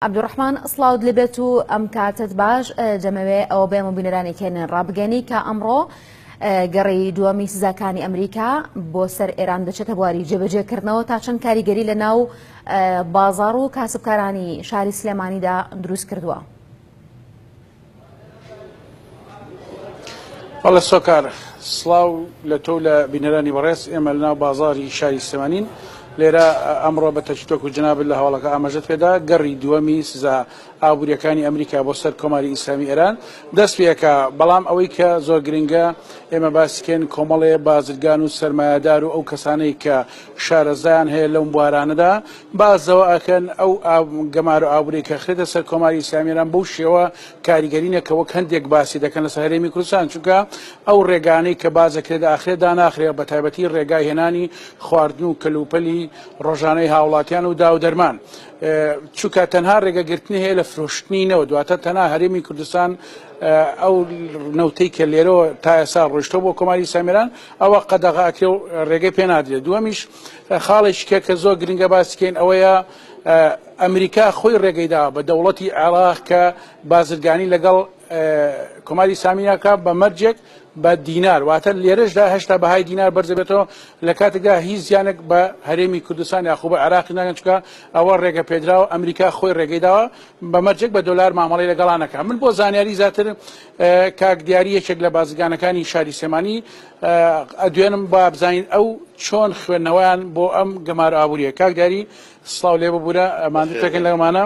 عبدالرحمن سڵاوت لێبێت و ئەم کاتت باش دەمەوێ ئەوە بێ مبینەرانی کێنێن ڕابگەنی کە ئەمڕۆ گەڕی دووەمی سزاکانی ئەمریکا بۆ سەر ئێران دەچێتە بواری جێبەجێکردنەوە تا چەند کاریگەری لە ناو بازار و کاسبکارانی شاری سلێمانیدا دروست کردووە. بەڵێ سۆکار سڵاو لە تۆ لە بینەرانی بەڕێز ئێمە لە ناو بازاری شاری سلێمانین لێرە ئەمڕۆ بە تەچتۆک و جناب لە هەواڵەکە ئاماژەت پێدا گەڕی دووەمی سزا ئابووریەکانی ئەمریکا بۆ سەر کۆماری ئیسلامی ئێران دەست پێەکە بەڵام ئەوەی کە زۆر گرنگە ئێمە باسکێن کۆمەڵێ بازرگان و سرمایهدار و ئەو کەسانەی کە شارەزایان هەیە لەم بوارانەدا باس لەوە ئەکەن ئەو گەمارۆ ئابووری کە خرێتە سەر کۆماری ئیسلامی ئێران بەو شێوە کاریگەری نە کە وەک هەندێک باسی دەکەن لەسەر هەرێمی کوردستان چونکە ئەو ڕێگانەی کە باس دەکرێت داخرێت داناخرێ بە تایبەتی ڕێگای هێنانی خواردن و کەلوپەلی ڕۆژانەی هاوڵاتیان و داو دەرمان چونکە تەنها ڕێگەگرتنی هەیە لە فرۆشتنی نەوە دواتە تەنها هەرێمی کوردستان ئەو نەوتەی کە لێرەوە تا ئێستا ڕۆشتە بۆ کۆماری سامیران ئەوە قەدەغاکرێ و ڕێگەی پێ نادرێت دووەمیش خاڵێکیکە کە زۆر گرنگە باسیکەین ئەوەیە ئەمریکا خۆی ڕێگەیداوە بە دەوڵەتی عێراق کە بازرگانی لەگەڵ کۆماری سامیاکە بە مەرجێک بە دینار واتە لێرەشدا هەشتا بەهای دینار بەرزەبێتەوە لە کاتێکدا هیچ زیانێک بە هەرێمی کوردستان یاخو بە عراقی ناگەنچکە ئەوە ڕێگە پێدراوە ئەمریکا خۆی ڕێگەیداوە بە مەرجێک بە دۆلار مامەڵی لەگەڵانەکە من بۆ زانیاری زیاتر کاک دیاری یەکێک لە بازرگانەکانی شاری سێمانی ئەدوێنم با بزانین ئەو چۆن خوێندنەوەیان بۆ ئەم گەمار ئابووریە کاک داری سلااو لێ ببوورە ئەماندوتەکەن لەمانە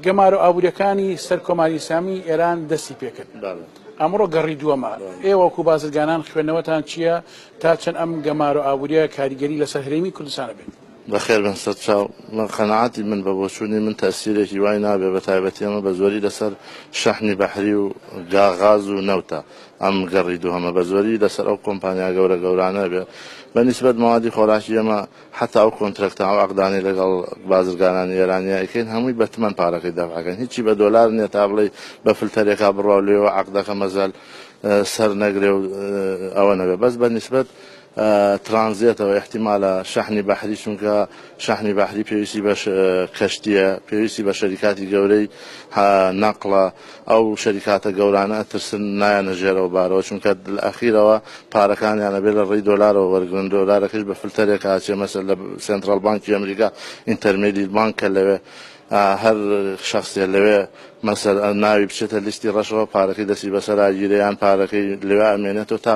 گەمار و ئابووریەکانی سەر کۆماری ئسلامی ئێران دەستی پێکرد ئەمڕۆ گەڕی دووەمە ئێوەکو بازرگانان خوێندنەوەتان چییە تا چەند ئەم گەمار و ئابووریە کاریگەری لەسەر هەرێمی کوردستانە بێت بەخێر بن سەر چاو من قەنەعاتی من بە بۆچوونی من تاسیرێکی وای نابێ بە تایبەتی ئەمە بە زۆری لەسەر شەحنی بەحری و گاغاز و نەوتە ئەم گەڕی دووهەمە بە زۆری لەسەر ئەو کۆمپانیا گەورە گەورانە بێ بە نیسبەت مەوادی خۆراکی ئێمە حەتا ئەو کۆنترەکتە ئەو عەقدانەی لەگەڵ بازرگانانی ئێرانیا ئەیکەین هەمووی بە تمەن پارەکەی دەفع ئەکەین هیچی بە دۆلار نیە تا بڵێی بە فلتەرێکا بڕوا و لێوە عەقدەکە مەزەل سەر نەگرێ و ئەوە نەبێ بەس بە نیسبەت ترانزێتەوە ئیحتیمالە شەحنی بەحری چونکە شەحنی بەحری پێویستی بە کەشتیە پێویستی بە شەریکاتی گەورەی نەقڵە ئەو شەریکاتە گەورانە ئەترسن نایەنە ژێرەوە بارەوە چونکە ئەخیرەوە پارەکانیانە بێ لە ڕێی دۆلارەوە وەرگن دۆلارەکەش بە فلتەرێک ئاچێ مەسەر لە سنترال بانکی ئەمریکا ئینتەرمێدیت بانکە لەوێ هەر شخصێ لەوێ مەسەر ناوی بچێتە لیستی ڕەشەوە پارەکەی دەسی بەسەر ئاگیرەیان پارەکەی لەوێ ئەمێنێتەوە تا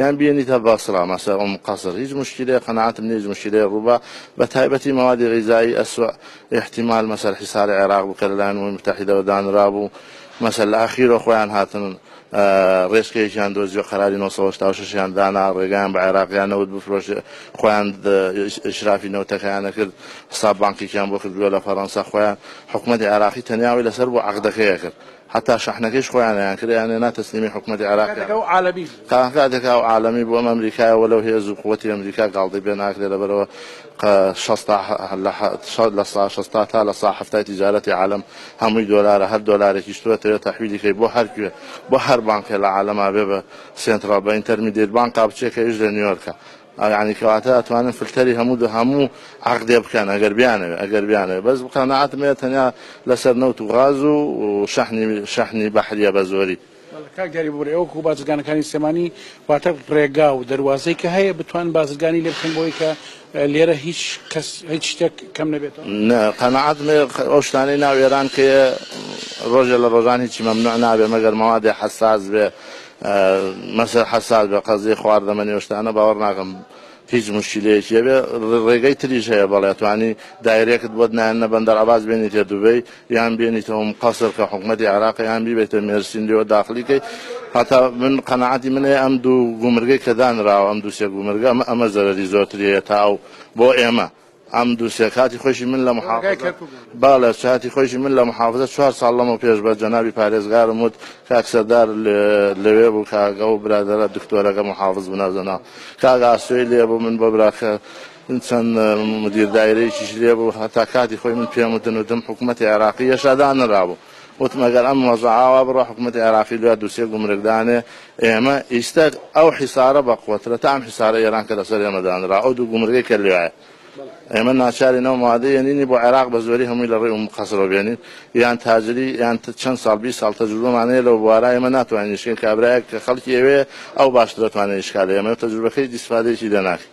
یان بیەنی تە بەسڕە مەسە ئوم قەسر هیچ مشکیلەیە قەناعەتم نیە هیچ مشکیلەیە ڕووبا بە تایبەتی مەوادی غیزایی ئەسوە ئیحتیمال مەسەر حیسار عێراق بوو کە لە لایەن ئومەی موتەحیدەوە دانرابوو مەسە لە ئاخیرۆ خۆیان هاتن ڕێچکەیەکیان دۆزیوە قەراری نۆ سەد و هەشتا و شەش یان دانا ڕێگایان بە عێراقیان نەوت بفرۆشێ خۆیان ئیسرافی نەوتەکەیانە کرد حساب بانکیکیان بۆ کردووە لە فەرەنسا خۆیان حکومەتی عێراقی تەنیا ئەوەی لەسەر بوو عەقدەکەیە کرد هەتا شەحنەکەیش خۆیان ئەیانکرد ئەیانێنا تەسلیمی حکومەتی عێراق کەن. تەنها کاتێک ئەو عالەمی بوو ئەم ئەمریکایە وە لەو هێزو قوتی ئەمریکا گاڵتەی پێ ناکرێ لەبەرئەوە قە شەستا هە لە سا شەستا تا لە سا حەفتای تیجارەتی عالەم هەمووی دۆلارە هەر دۆلارێکیش تۆ ئەتەوێ تەحویلی کەی بۆ هەر کوێ بۆ هەر بانکێ لە عالەما بێ بە سێنتڕاڵ بە ئینتەرمیدێت بانکا بچێ کە ئیش لە نیۆرکە یانی کەواتە ئەتوانن فلتەری هەموو دە هەموو عەقدێ بکەن ئەگەر بیانەوێ ئەگەر بیانەوێ بەس قەناعەتم هەیە تەنیا لەسەر نەوت و غاز و شەحنی شەحنی بەحریە بە زۆری. بەڵێ کاک دیاری ببورە ئێوە کو بازرگانەکانی سلێمانی واتە ڕێگا و دەروازەی کە هەیە بتوانن بازرگانی لێ بکەن بۆی کە لێرە هیچ کەس هیچ شتێک کەم نەبێتەوە نە قەناعەت مێ ئەو شتانەی ناو ئێران کێ ڕۆژێ لە ڕۆژان هیچی مەمنوع نابێ مەگەر مەوادێ حەساس بێ مەسە حەساد بە قەزی خواردەمە نێوشتانە باوەڕ ناکەم هیچ مشکلەیەکی هەبێ ڕێگەی تریش هەیە بەڵێ توانی دایرێکت بۆت نایەنە بەندەر عباس بێنیتە دوبەی یان بێنیتەوەم قەسر کە حکوومەتی عراقی یان بیبێتە مێرسین لێوە داخلیکەی هەتا من قەنەعاتی منێ ئەم دوو گومرگەی کە دانراوە ئەم دووسێ گومرگە ئەمە ئەمە زەرری زۆرتریە تا و بۆ ئێمە ئەم دوسیە کاتی خۆیشی من لە محافزە بالە چاتی خۆیشی من لە محافزە چوار ساڵ لەمە پێش بە جەنابی پارێزگارم وت کاک سەردار لەوێ بوو کاگە و برادەرە دکتۆرەکە محافظ بنەزەنا کاگە ئاسۆی لێ بوو من بۆ براکە چەند مدیر دایرەیەکیش لێ بوو هەتا کاتی خۆی من پێم وتن وتم حکوومەتی عێراقی یەشادانرابوو وتم ئەگەر ئەم وەزعە ئاوا بڕوا حکومەتی عێراقی دوای دوو سێ گومرگ دانێ ئێمە ئیستە ئەو حیسارە بەقوەترە تا ئەم حیسارە ئێران کە لەسەر ئێمە دانرا ئەو دوو گومرگەی کە لوایە ئێمە ناچارین ئەو موادە یەنینی بۆ عێراق بە زۆری هەمووی لە ڕێی ئوم قەسرەوە بێنین یان تاجری یان چەند ساڵ بیست ساڵ تەجروبەمان هەیە لەو بوارە ئێمە ناتوانین ئیشکەین کابرایەک کە خەڵکی ئەوێ ئەو باشتر دەتوانێت ئیشکا لە ئێمە تەجروبەکەی ئیستفادەیەکی لێ ناکەین